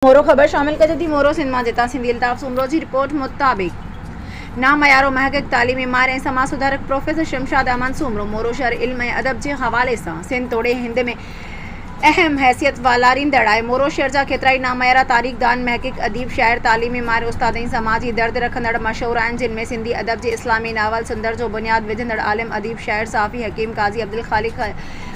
مورو خبر شامل ڪجو ٿي مورو سنڌ مان جتان سنڌي الطاف سومرو جي رپورٽ مطابق ناميارو محقق تعليمي ماهر ۽ سماج سڌارڪ پروفيسر شمشاد احمد سومرو مورو شهر علم ۽ ادب جي حوالي سان سنڌ توڙي هند ۾ اهم حيثيت والاريندڙ آهي مورو شهر جا ڪيترائي ناميارا تاريخ دان محقق اديب شاعر تعليمي ماهر استاد ۽ سماجي درد رکندڙ مشهور آهن جن ۾ سنڌي ادب جي اسلامي ناول سندر جو بنياد وجهندڙ عالم اديب شاعر صحافي حڪيم قاضي عبدالخالق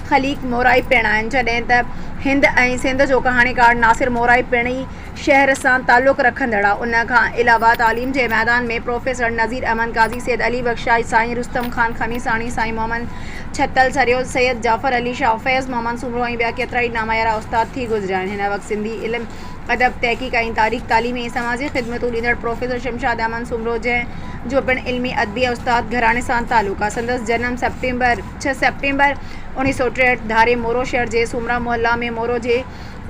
خليق مورائي پڻ آهن، جڏهن ته هند ۽ سنڌ جو ڪهاڻيڪار ناصر مورائي پڻ ئي شهر سان تعلق رکندڙ آ. ان کان علاوه تعليم جي ميدان ۾ پروفيسر نذير احمد قاضي، سيد علي بخش شاهي، سائين رستم خان خميساڻي، سائين محمد ڇتل سريو، سيد جعفر علي شاهه، فيض محمد سومرو ۽ ٻيا ڪيترائي ناميارا استاد ٿي گذريا آهن. هن وقت سنڌي علم، ادب، تحقيق ۽ تاريخ، تعليمي ۽ سماجي خدمتون ڏيندڙ پروفيسر شمشاد احمد سومرو جنهن جو پڻ علمي، ادبي ۽ استاد گهراڻي سان تعلق آ. سندس جنم سيپٽمبر، ڇهه سيپٽمبر اوڻيهه سؤ ٽيهٺ ڌاري مورو شهر جي سومرا محلا ۾ مورو جي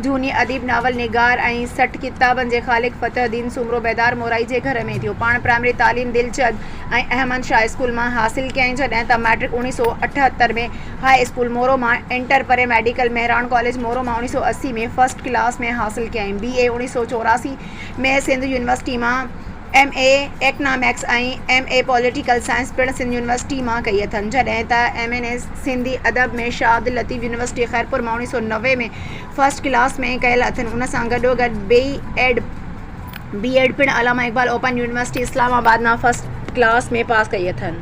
جهوني اديب، ناول نگار ۽ سٺ ڪتابن جي خالق فتح الدين سومرو بيدار مورائي جي گهر ۾ ٿيو. پاڻ پرائمري تعليم دلچد ۽ احمد شاهه اسڪول مان حاصل ڪيائين جڏهن ته مئٽرڪ اوڻيهه سؤ اٺهتر ۾ هاء اسڪول مورو مان ۽ inter pre medical Mehran college Moro مان اوڻيهه سؤ اسي ۾ فرسٽ ڪلاس ۾ حاصل ڪيائين بي اي اوڻيهه سؤ چوراسي ۾ سنڌ يونيورسٽي مان M A economics ۽ M A political science پڻ سنڌ يونيورسٽيء مان ڪئي اٿن، جڏهن ته ايم اين ايس سنڌي ادب ۾ شاهه عبداللطيف يونيورسٽيء خيرپور مان اڻويهه سؤ نوي ۾ فرسٽ ڪلاس ۾ ڪيل اٿن. ان سان گڏوگڏ بي ايڊ، بي ايڊ، پڻ Allama Iqbal open university Islamabad مان فرسٽ ڪلاس ۾ پاس ڪئي اٿن.